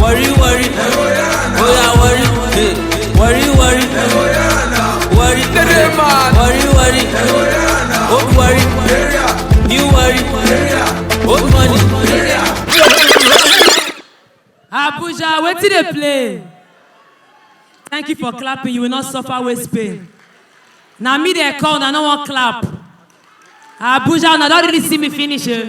Worry, worry. Oh yeah, worry. Hey. Worry, worry. Worry. Worry, worry. Old worry. New worry. Old money. Abuja, wetin dey play? Thank you for clapping, you will not suffer waist pain. Na me dey call, na no wan clap. Abuja, una don really see me finish eh?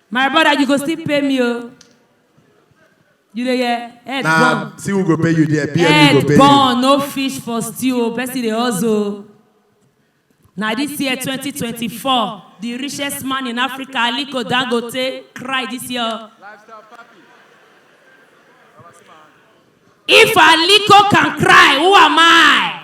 My brother, you go still pay me, oh. You dey hear? Head na burn. see who go pay you there pm go Head pay you burn, no fish for stew, oh. Person dey hustle. Na this year 2024, the richest man in Africa, Aliko Dangote, cry this year. oh. If Aliko can cry, who am I?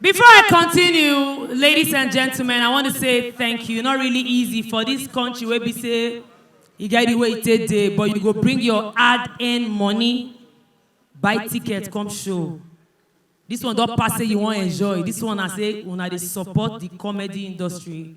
Before I continue, ladies and gentlemen, I want to say thank you. Not really easy for this country where we say you get the way it take day, but you go bring your hard-earned money, buy ticket, come show. This one don't pass say you want enjoy. This one I say una dey support the comedy industry.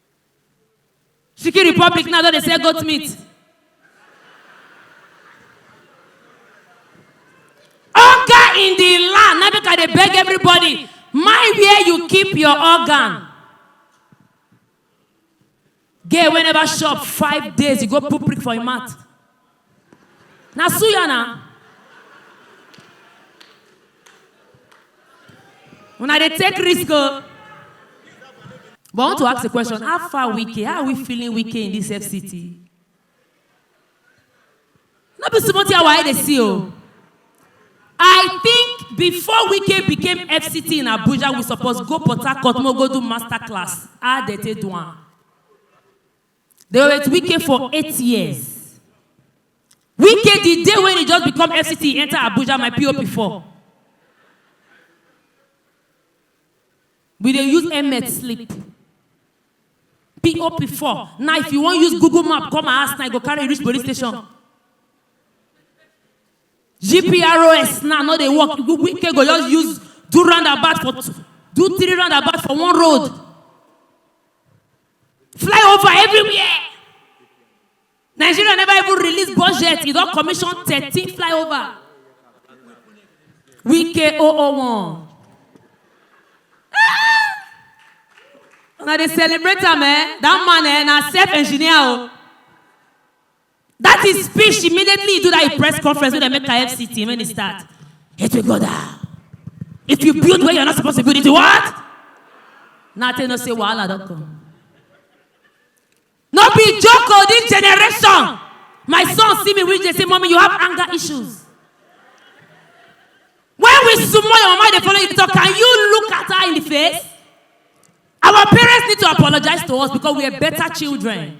Chicken Republic now don dey sell goat meat. Hunger in the land. Now make I dey beg everybody. Mind where you keep your organ. Gay wey never chop five days, you go put prick for your mouth. Na suya na. Una dey take risk o. But I want to ask a question, how far Wike, how are we feeling Wike in this FCT? No be small thing our eye dey see o. I think before Wike became FCT in Abuja, we suppose go Port Harcourt, make we go do master class, how dem take do am. They were with Wike for eight years. Wike, the day when he just become FCT, he enter Abuja, my PO before. We dey use emet sleep. PO before. Now, if you wan use Google map come my house now, you go carry reach police station. GPROS now no dey work. Wike go just use do roundabout for two, do three roundabout for one road. fly over everywhere nigeria never even release budget e don commission thirteen flyover wike 001 una dey celebrate am eh that man eh na self engineer o. Dat his speech immediately he do dat his press conference wey dem make am FCT when e start. It will go down. If you build where you're not supposed to build it, you what? Now tell you say wahala don come. No be joke o this generation. My son see me reach dey say mommy you have anger issues. When we sumo your mama dey follow you talk can you look at her in the face? Our parents need to apologize to us because we are better children.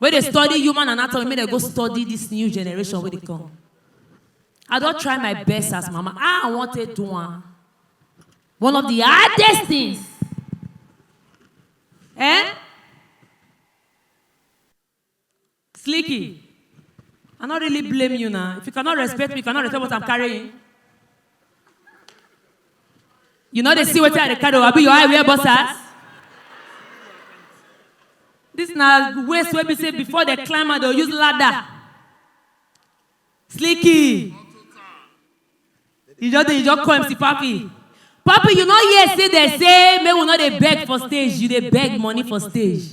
wey dey study human anatomy make dem go study this new generation wey dey come I don try my best as mama how I wan take do am one of the hardest things eh Slicky I no really blame you na if you cannot respect me you cannot respect what I'm carrying you no dey see wetin i dey carry o abi your eye wear boxers this na waist wey be say before dem climb am dem use ladder slicky you just dey you just call mc papi papi you no hear say dem say make we no dey beg for stage you dey beg money for stage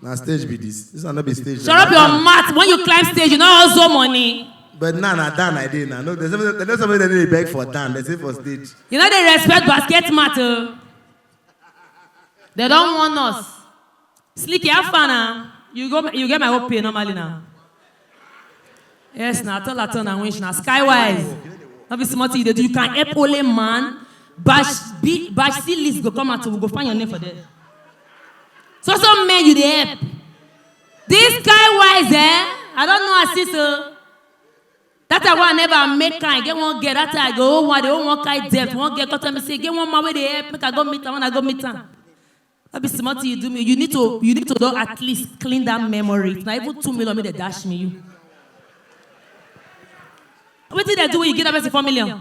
na stage be this this one no be stage shut up your mouth when you climb stage you no hustle money. But now na down I dey now. No, there's somebody, there's somebody that dey beg for down. They say for stage. You know they respect basket mat o. They don warn us. Slicky, how far na? You go, you get my work pay normally now. Yes, na tall at all na winch na skywise. No be small thing you dey do. You can help only man. Bash B, bash C list go come out. We go find your name for there. So so men you dey help. This guy wise eh, I don't know as this o. That time wey I never make kind, I get one girl, that time I go home, I dey home one kind debt, one girl come tell me say, get one man wey dey help, make I go meet am, when I go meet am. No be small thing you do me, you need to, you need to don at least clean that memory, if na even two million make dem dash me you. Wetin dem do when you give that person four million?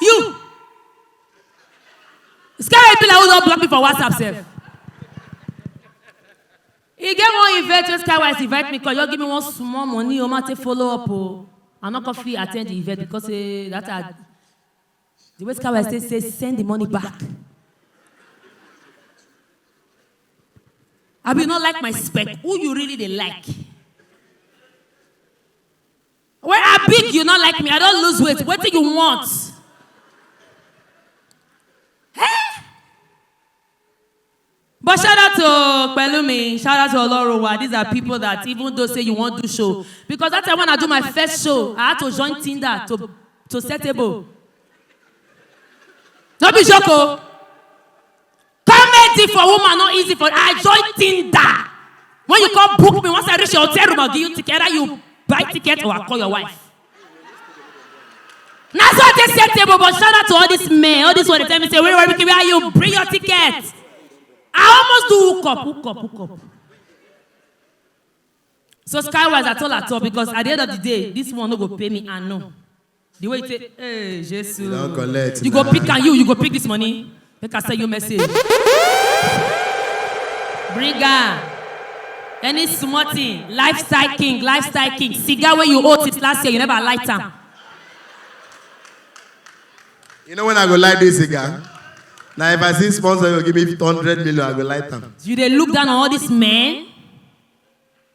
you this kind wey be like who don block me for whatsapp sef e get one event wey skywise invite me come just give me one small money o ma take follow up o i no come fit attend the event because say that i the way skywise take say send the money back abi you no like my spec who you really dey like Wey I big you no like me, I don lose weight, wetin you want? Eh? But shout out to Pelumi, shout out to Olorowa, these are people that even though say you wan do show, because that time when I do my first show, I had to join Tinder to to setable. No be joke o. Comedy for woman no easy for I join Tinder. When you come book me, once I reach your hotel room, I'll give you ticket. Either you buy ticket or I'll call your wife. Na so I take set table, but shout out to all these men, all these one dey tell me say, where where where are you? Bring your ticket. I almost do hook up, hook up, hook up. So skywise at all at all because at the end of the day, this one no go pay me and no. The way you take, hey, Jesus. You don't collect. You go now. pick and you, you go pick this money. Make I send you message. Bring am. Any small thing, lifestyle king, lifestyle king. Cigar wey you hold it last year, you never light am. You know when I go light this cigar? Now if I see sponsor, you give me 100 million, I go light them. You dey look down on all these men?